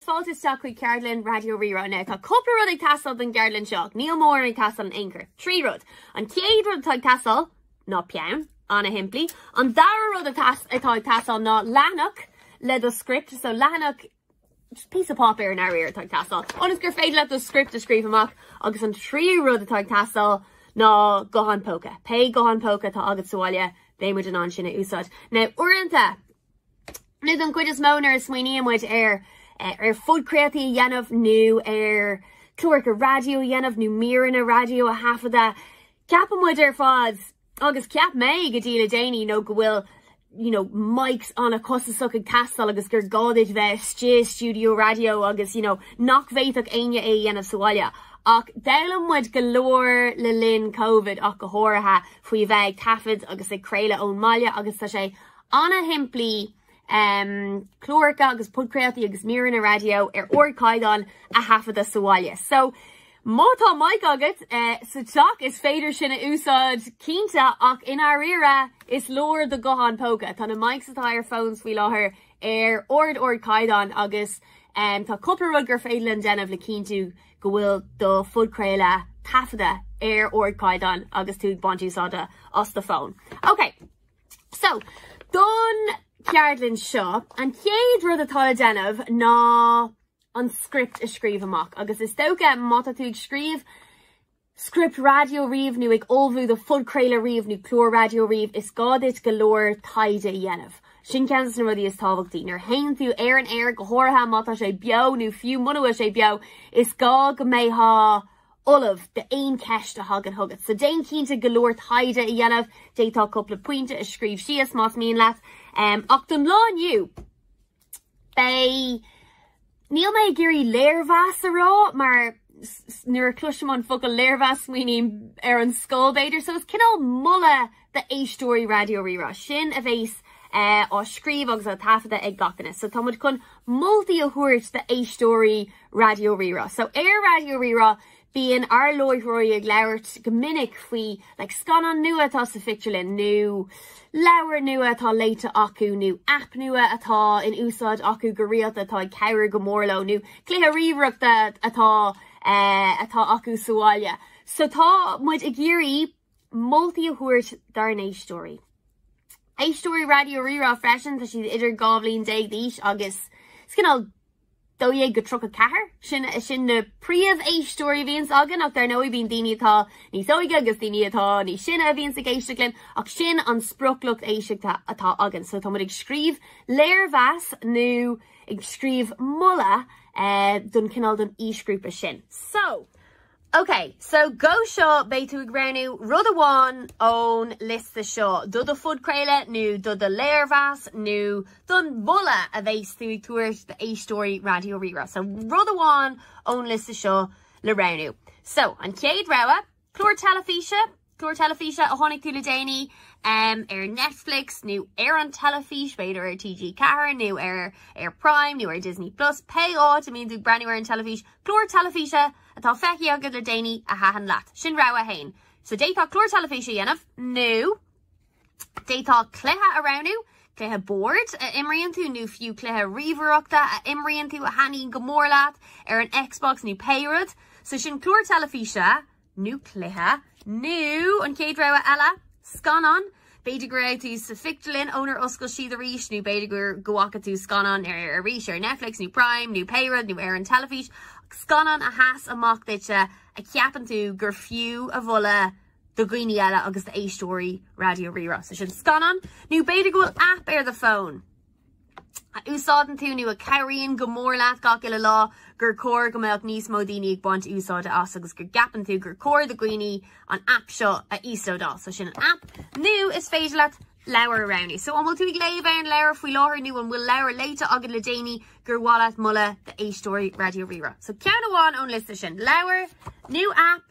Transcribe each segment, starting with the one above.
Fáilte isteach chuig Ceardlann Raidió Rí-Rá inniu. Tá cúpla rud ag teastáil don gceardlann seo ach níl mórán ag teastáil in aon chor. Trí rud. An chéad rud atá ag teastáil ná peann, an-shimplí. An dara rud atá ag teastáil ná leathanach le do script, so leathanach, just píosa páipéir i ndáiríre atá ag teastáil, ionas gur féidir leat do script a scríobh amach agus an tríú rud atá ag teastáil ná guthán póca. Pé guthán póca atá agat sa bhaile, beidh muid in ann sin a úsáid. Now uaireanta, Nó don chuid is mó nuair a smaoiníonn muid ar ar phodchraoltaí a dhéanamh nó ar chláracha raidió a dhéanamh nó míreanna raidió a thaifeadadh, ceapann muid ar fad, agus cheap mé go dtí le déanaí, go bhfuil you know mics an-chostasach ag teastáil agus gur gá duit bheith istigh i stiúideo raidió agus you know nach bhféadfadh éinne é a dhéanamh sa bhaile. Ach d'fhoghlaim muid go leor le linn Covid ach go háirithe faoi bheith ag taifead agus ag craoladh ón mbaile agus tá sé ana-shimplí, cláracha agus podchraoltaí agus míreanna raidió ar ardchaighdeán a thaifeadadh sa bhaile. So, má tá mic agat sa teach, is féidir sin a úsáid, cinnte, ach i ndáiríre, is leor do ghuthán póca. Tá na mics atá ar phones faoi láthair ar ard-ardchaighdeán agus tá cúpla rud gur féidir linn déanamh le cinntiú go bhfuil do phodchraoladh taifeadta ar ardchaighdeán agus tú ag baint úsáide as do phone. Okay. So, don cheardlann seo, an chéad rud atá le déanamh ná an script a scríobh amach agus is dócha má tá tú ag scríobh script raidió riamh nó ag ullmhú do phodchraoladh riamh nó clár raidió riamh, is gá duit go leor taighde a dhéanamh. Sin ceann des na rudaí is tábhachtaí. Nuair a théann tú ar an aer, go háirithe má tá sé beo nó fiú mura bhfuil sé beo, is gá go mbeifeá ullamh d'aon cheist a thagann chugat. So déan cinnte go leor taighde a dhéanamh, d'fhéadfá cúpla pointe a scríobh síos más mian leat. Ach don lá inniu, beidh, níl mé ag iarraidh léirmheas a rá mar nuair a cloisim an focal léirmheas smaoiním ar an scoil b'fhéidir, so is cineál moladh, d'éisteoirí Raidió Rí-Rá sin a bheas á scríobh agus á taifeadadh ag gach duine. So tá muid chun moltaí a thabhairt d'éisteoirí Raidió Rí-Rá. So ar Raidió Rí-Rá bíonn ár láithreoirí ag labhairt go minic faoi like scannán nua atá sa phictiúrlann nó leabhar nua atá léite acu nó app nua atá in úsáid acu go rialta atá ag cabhrú go mór leo nó cluiche ríomhaireachta atá eh, atá acu sa bhaile. So tá muid ag iarraidh moltaí a thabhairt dár n-éisteoirí. Éisteoirí Raidió Rí-Rá freisin, tá siad idir dhá bhliain déag d'aois agus is cineál dó dhéag go tríocha ceathair, sin na príomh-éisteoirí a bhíonns againn ach dar ndóigh bíonn daoine atá níos óige agus daoine atá níos sine a bhíonns ag éisteacht linn ach sin an sprioclucht éisteachta atá againn. So tá muid ag scríobh léirmheas nó ag scríobh moladh don cineál don aoisgrúpa sin. So OK, so go seo beidh tú ag roghnú rud amháin ón liosta seo do do phodchraoladh nó do do léirmheas nó don mholadh a bheas tú ag tabhairt d'éisteoirí Raidió Rí-Rá. So rud amháin ón liosta seo le roghnú. So, an chéad rogha, clár teilifíse, Clár teilifíse a tháinig tú le déanaí ar Netflix nó ar an teilifís, b'fhéidir ar TG4 nó ar ar Prime nó ar Disney Plus, pé áit a mbíonn tú ag breathnú ar an teilifís, clár teilifíse atá feicthe agat le déanaí a thaitin leat. Sin rogha a haon. So d'fhéadfá clár teilifíse a dhéanamh nó d'fhéadfá cluiche a roghnú, cluiche boird a imríonn tú nó fiú cluiche ríomhaireachta a imríonn tú a thaitníonn go mór leat ar an Xbox nó pé rud. So sin clár teilifíse. nó cluiche, nó an chéad rogha eile, scannán. B'fhéidir go raibh tú sa phictiúrlann ónar oscail siad arís, nó b'fhéidir gur go bhfaca tú scannán arís ar Netflix nó Prime nó pé rud nó ar an teilifís, scannán a sheas amach duitse a cheapann tú gur fiú a mholadh do dhaoine eile agus d'éisteoirí Raidió Rí-Rá. So sin scannán, nó b'fhéidir go bhfuil aip ar do fón. a úsáideann tú nó a chabhraíonn go mór leat gach uile lá, gur chóir go mbeadh níos mó daoine ag baint úsáide as agus go gceapann tú gur chóir do dhaoine an aip seo a íoslódáil. So sin an aip. Nó is féidir leat leabhar a roghnú. So an bhfuil tú ag léamh aon leabhar faoi láthair nó an bhfuil leabhar léite agat le déanaí gur mhaith leat moladh d'éisteoirí Raidió Rí-Rá? So ceann amháin ón liosta sin, leabhar nó aip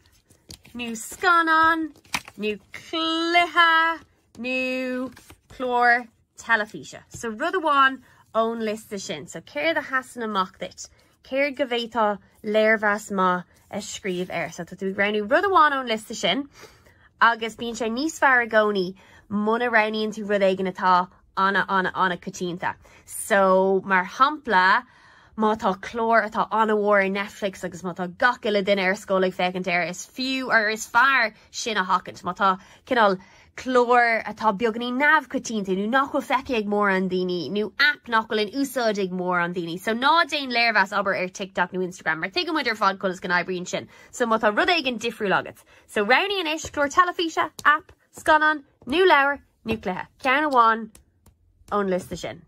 nó scannán nó cluiche nó clár teilifíse. So rud amháin ón liosta sin. So céard a sheasann amach duit? Céard go bhféadfá léirmheas maith a scríobh air? So tá tú ag roghnú rud amháin ón liosta sin agus bíonn sé níos fearr i gcónaí muna roghnaíonn tú rud éigin atá ana ana coitianta. So mar shampla má tá clár atá ana mhór ar Netflix agus má tá gach uile duine ar scoil ag féachaint air is fiú or is fearr sin a sheachaint. Má tá cineál clár atá beagainín neamhchoitianta nó nach bhfuil feicthe ag mórán daoine, nó aip nach bhfuil in úsáid ag mórán daoine, so ná déan léirmheas, abair, ar TikTok nó Instagram, mar tuigeann muid ar fad conas go n-oibríonn sin. So má tá rud éigin difriúil agat, so roghnaigh anois, clár teilifíse, aip, scannán, nó leabhar, nó cluiche. Ceann amháin ón liosta sin.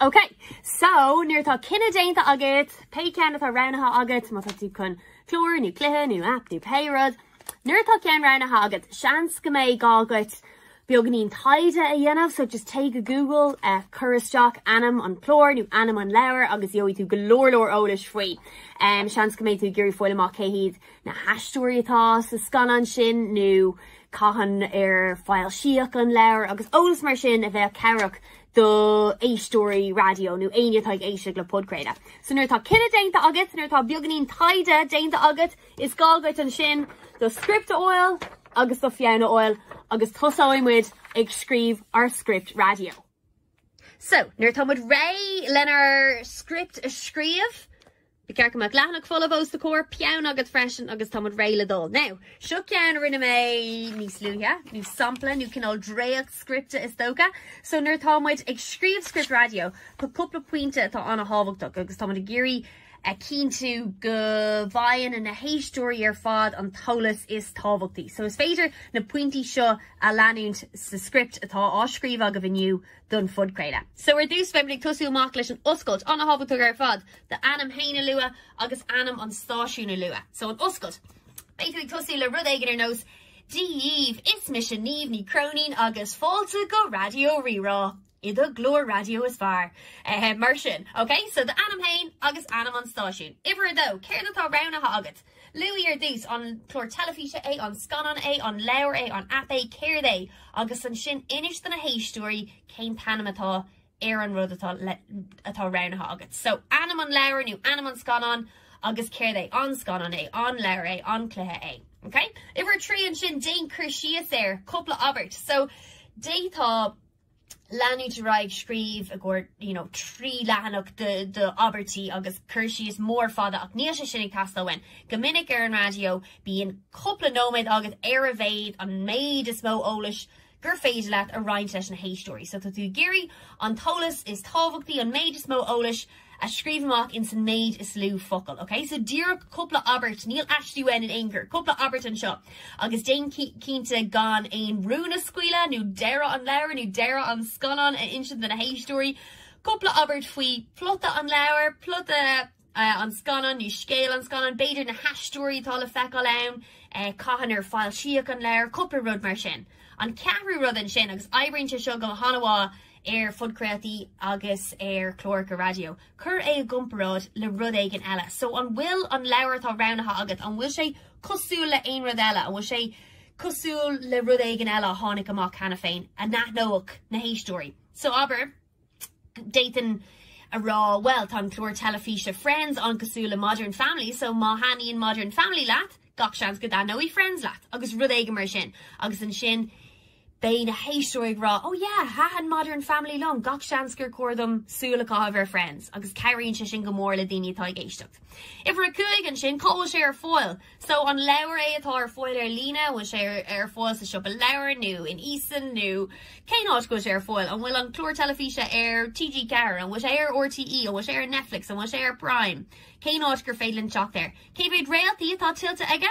Ok, so nuair atá cinneadh déanta agat pé ceann atá roghnaithe agat, má tá tú chun clár nó cluiche nó aip nó pé rud, nuair atá ceann roghnaithe agat, seans go mbeidh gá agat beagainín taighde a dhéanamh, so just téigh go Google, cuir isteach ainm an chláir nó ainm an leabhair agus gheobhaidh tú go leor leor eolais faoi. Seans go mbeidh tú ag iarraidh a fháil amach cé hiad na haisteoirí atá sa scannán sin nó cathain ar foilsíodh an leabhar agus eolas mar sin a bheadh cabhrach do éisteoirí raidió nó éinne atá ag éisteacht le podchraoladh. So nuair atá cinneadh déanta agat, nuair atá beagainín taighde déanta agat, is gá dhuit ansin do script a fháil agus do pheann a fháil agus tosóidh muid ag scríobh ár script raidió. So, nuair atá muid réidh lenár script a scríobh, Ba cheart go mbeadh leathanach folamh os do chomhair peann agat freisin agus tá muid réidh le dul. Now, seo ceann a rinne mé níos luaithe, nó sampla, nó cineál dréacht scripte is dócha. So nuair atá muid ag scríobh script raidió, tá cúpla pointe atá an-tábhachtach agus tá muid ag iarraidh a chinntiú go bhfaigheann na héisteoirí ar fad an t-eolas is tábhachtaí. So is féidir na pointí seo a leanúint sa script atá á scríobh agaibh inniu don phodchraoladh. So ar dtús beimid ag tosú amach leis an oscailt an-thábhachtach ar fad do ainm fhéin a lua agus ainm an stáisiúin a lua. So an oscailt. Beidh tú ag tosú le rud éigin ar nós Dia dhaoibh, is mise Niamh Ní Chróinín agus fáilte go Raidió Rí-Rá i do ghlór raidió is fearr. Mar sin. Ok, so do ainm fhéin agus ainm an stáisiúin. Uimhir a dó, céard atá roghnaithe agat? Luaigh ar dtús, an clár teilifíse é, an scannán é, an leabhar é, an aip é, céard é, agus ansin inis do na héisteoirí cén t-ainm atá ar an rud atá roghnaithe agat. So, ainm an leabhair nó ainm an scannáin agus céard é, an scannán é, an leabhar é, an cluiche é. Okay? Uimhir a trí ansin, déan cur síos air, cúpla abairt. So, d'fhéadfá leanúint ar aghaidh ag scríobh i gcomhair you know trí leathanach de abairtí agus cur síos mór fada ach níl sé sin ag teastáil uainn. Go minic ar an raidió bíonn cúpla nóiméad agat ar a mhéid, an méid is mó eolais gur féidir leat a roinnt leis na héisteoirí. So tá tú ag iarraidh an t-eolas is tábhachtaí, an méid is mó eolais, a scríobh amach ins an méid is lú focal. Ok, so díreach cúpla abairt, níl aiste uainn in aon chor, cúpla abairt anseo agus déan cinnte gan aon rún a scaoileadh nó deireadh an leabhair nó deireadh an scannáin a insint do na héisteoirí. Cúpla abairt faoi phlota an leabhair, plota an scannáin nó scéal an scannáin, b'fhéidir na haisteoirí atá le feiceáil ann, cathain ar foilsíodh an leabhar, cúpla rud mar sin. An ceathrú rud ansin, agus oibríonn sé seo go hana-mhaith, ar phodchraoltaí agus ar chláracha raidió, cuir é i gcomparáid le rud éigin eile. So, an bhfuil an leabhar atá roghnaithe agat, an bhfuil sé cosúil le aon rud eile? An bhfuil sé cosúil le rud éigin eile a tháinig amach cheana féin a n-aithneodh na héisteoirí? So, abair, d'fhéadfainn a rá, bhuel, tá an clár teilifíse Friends an-cosúil le Modern Family, so má thaitníonn Modern Family leat, gach seans go dtaitneoidh Friends leat, agus rud éigin mar sin. Agus ansin, Beidh na héisteoirí ag rá, Oh yeah, thaitin Modern Family liom, gach seans gur chóir dom súil a chaitheamh ar Friends, agus cabhraíonn sé sin go mór le daoine atá ag éisteacht. Uimhir a cúig, ansin, cá bhfuil sé ar fáil? So, an leabhar é atá ar fáil ar líne, an bhfuil sé ar fáil sa siopa leabhar nó in Eason nó cén áit go bhfuil sé ar fáil? An bhfuil an clár teilifíse ar TG4, an bhfuil sé ar RTE, an bhfuil sé ar Netflix, an bhfuil sé ar Prime? Cén áit gur féidir linn teacht air? Cé mhéad réaltaí atá tuillte aige?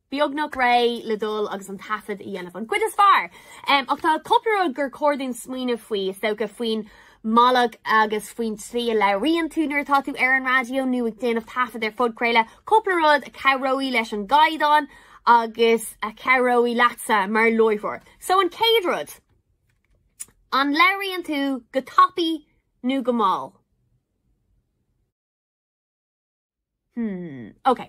beagnach réidh le dul agus an taifead a dhéanamh, an chuid is fearr. Ach tá cúpla rud gur chóir dúinn smaoineamh faoi, is dócha, faoin mbealach agus faoin tslí a labhraíonn tú nuair atá tú ar an raidió nó ag déanamh taifead ar phodchraoladh, cúpla rud a chabhróidh leis an gcaighdeán agus a chabhróidh leatsa mar láithreoir. So an chéad rud, an labhraíonn tú go tapaidh nó go mall? Hmm, ok.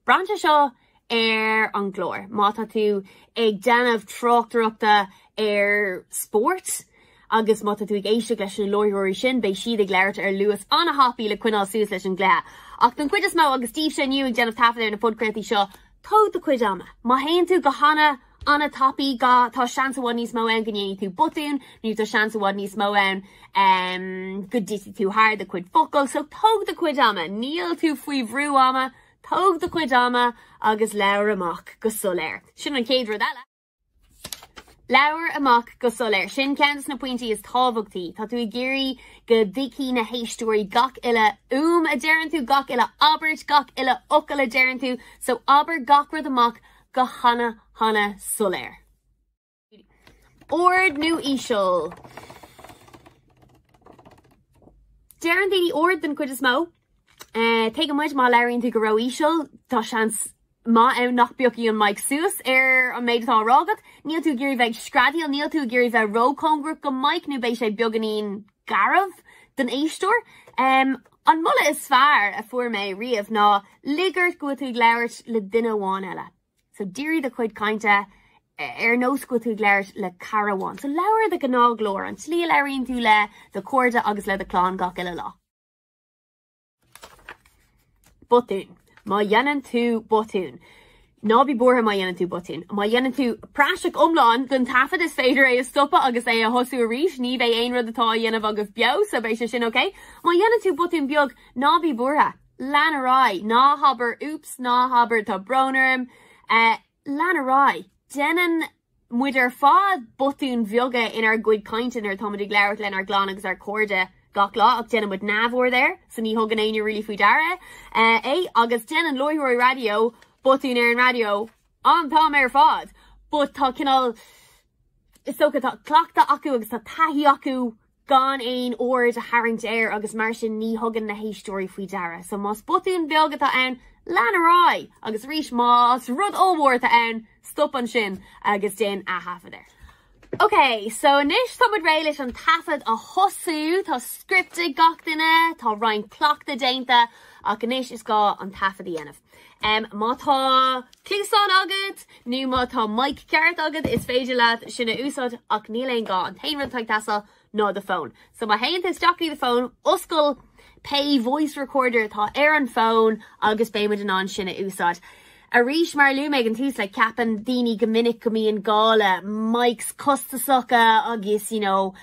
Braitheann sé seo ar an gclár, má tá tú ag déanamh tráchtaireachta ar spórt agus má tá tú ag éisteacht leis na láithreoirí sin beidh siad ag labhairt ar luas an-thapaidh le coinneáil suas leis an gcluiche. Ach don chuid is mó agus daoibhse inniu ag déanamh taifead ar na podchraoltaí seo, tóg do chuid ama. Má théann tú go hana, an-tapaidh, ga, Tá seans i bhfad níos mó ann go ndéanfaidh tú botún, nó tá seans i bhfad níos mó ann go dtitfidh tú thar do chuid focal, so tóg do chuid ama, níl tú faoi bhrú ama, tóg do chuid ama agus labhair amach go soiléir. Sin an chéad rud eile. Labhair amach go soiléir. Sin ceann de na pointí is tábhachtaí. Tá tú ag iarraidh go dtuigfidh na héisteoirí gach uile úm a deireann tú, gach uile abairt, gach uile fhocal a deireann tú, so abair gach rud amach go hana hana soiléir. Ard nó íseal? Deireann daoine ard den chuid is mó. Tuigeann muid má labhraíonn tú go ró-íseal, tá seans maith ann nach bpiocfaidh an mic suas ar an méid atá á rá agat. Níl tú ag iarraidh bheith ag screadaíl, níl tú ag iarraidh bheith ró-chóngarach go mic nó beidh sé beagáinín garbh don éisteoir. An moladh is fearr a fuair mé riamh ná, lig ort go bhfuil tú ag labhairt le duine amháin eile. So dírigh do chuid cainte ar nós go bhfuil tú ag labhairt le cara amháin. So labhair i do ghnáthghlór, an tslí a labhraíonn tú le do chairde agus le do chlann gach uile lá. botún, Má dhéanann tú botún, ná bí buartha má dhéanann tú botún. Má dhéanann tú praiseach iomlán den taifead is féidir é a stopadh agus é a thosú arís, ní bheidh aon rud atá á dhéanamh agaibh beo, so beidh sé sin ok. Má dhéanann tú botún beag, ná bí buartha, lean ar aghaidh, ná habair oops, ná habair tá brón orm, eh, Lean ar aghaidh! Déanann muid ar fad botúin bheaga inár gcuid cainte nuair atá muid ag labhairt lenár gclann agus ár cairde gach lá ach déanann muid neamhaird air so ní thugann éinne really faoi deara é agus déanann láithreoirí raidió botúin ar an raidió an t-am ar fad but tá cineál is dócha tá cleachtadh acu agus tá taithí acu gan aon aird a tharraingt air agus mar sin ní thugann na héisteoirí faoi deara. So más botún beag atá ann, lean ar aghaidh agus arís más rud ollmhór atá ann, stop ansin agus déan ath-thaifead air. Ok, so anois tá muid réidh leis an taifead a thosú, tá script ag gach duine, tá roinnt cleachtadh déanta ach anois is gá an taifead a dhéanamh. Má tá cluasáin agat nó má tá mic ceart agat, is féidir leat sin a úsáid ach níl aon gá, an t-aon rud atá ag teastáil ná do fón. So má théann tú isteach i do fón, oscail pé voice recorder atá ar an fhón agus beidh muid in ann sin a úsáid. Arís mar a luaigh mé ag an tús, like ceapann daoine go minic go mbíonn gá le mics costasacha agus you know,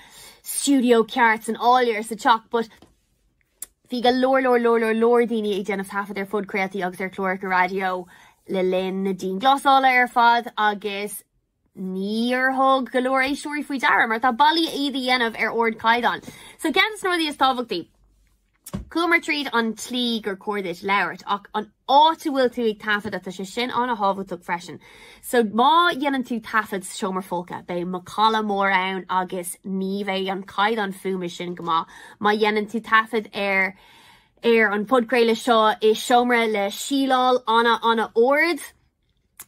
studio ceart san áiléar sa teach but Bhí go leor leor leor leor leor daoine ag déanamh taifead ar phodchraoltaí agus ar chláracha raidió le linn na dianghlasála ar fad agus níor thug go leor éisteoirí faoi deara mar tá bealaí iad a dhéanamh ar ardchaighdeán. So ceann de na rudaí is tábhachtaí, Chuamar tríd an tslí gur cóir duit labhairt ach an áit a bhfuil tú ag taifeadadh, tá sé sin an-thábhachtach freisin. So má dhéanann tú taifead sa seomra folctha, beidh macalla mór ann agus ní bheidh an caighdeán fuaime go maith. Má dhéanann tú taifead ar ar an bpodchraoladh seo i seomra le síleáil an-an-ard,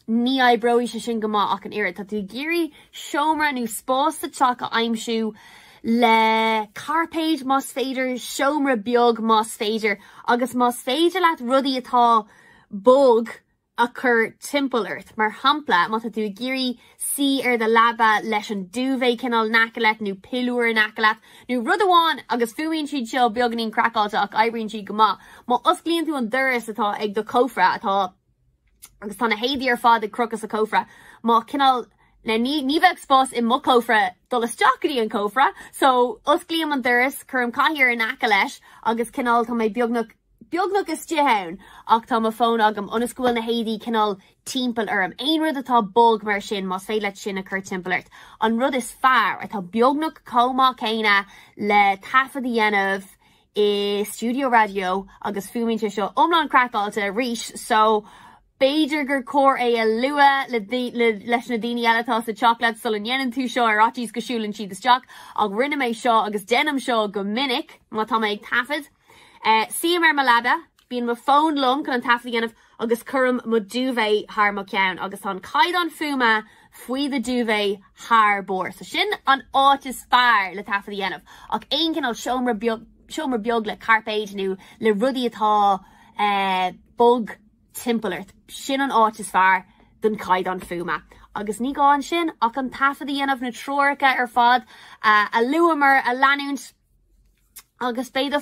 Ní oibreoidh sé sin go maith ach an oiread. Tá tú ag iarraidh seomra nó spás sa teach a aimsiú le cairpéid más féidir, seomra beag más féidir, agus más féidir leat rudaí atá bog a chur timpeall ort. Mar shampla, má tá tú ag iarraidh suí ar do leaba leis an duvet cineál in aice leat nó piliúr in aice leat nó rud amháin, agus fuaimíonn siad seo beagainín craiceáilte ach oibríonn siad go maith, má osclaíonn tú an doras atá ag do chófra atá. agus tá na héadaí ar fad ag crochadh sa chófra. má cineál Now ní ní bheadh spás i mo chófra dul isteach go dtí an cófra, so osclaím an doras, cuirim cathaoir in aice leis agus cineál tá mé beagnach beagnach istigh ann ach tá mo fón agam ionas go bhfuil na héadaí cineál timpeall orm. Aon rud atá bog mar sin, más féidir leat sin a chur timpeall ort, an rud is fearr, atá beagnach chomh maith céanna le taifead a dhéanamh i stiúideo raidió agus fuaimíonn sé seo iomlán craiceáilte arís so b'fhéidir gur chóir é a lua leis na daoine eile atá sa teach leat sula ndéanann tú seo ar fhaitíos go siúlann siad isteach ach rinne mé seo agus déanaim seo go minic má tá mé ag taifead suím ar mo leaba Bíonn mo fón liom chun an taifead a dhéanamh agus cuirim mo duvet thar mo cheann agus tá an caighdeán fuaime faoi do duvet thar barr so sin an áit is fearr le taifead a dhéanamh ach aon cineál seomra beag le cairpéid nó le rudaí atá bog timpeall ort, sin an áit is fearr don chaighdeán fuaime. Agus ní gá ansin ach an taifead a dhéanamh, na treoracha ar fad a luamar a leanúint agus beidh do.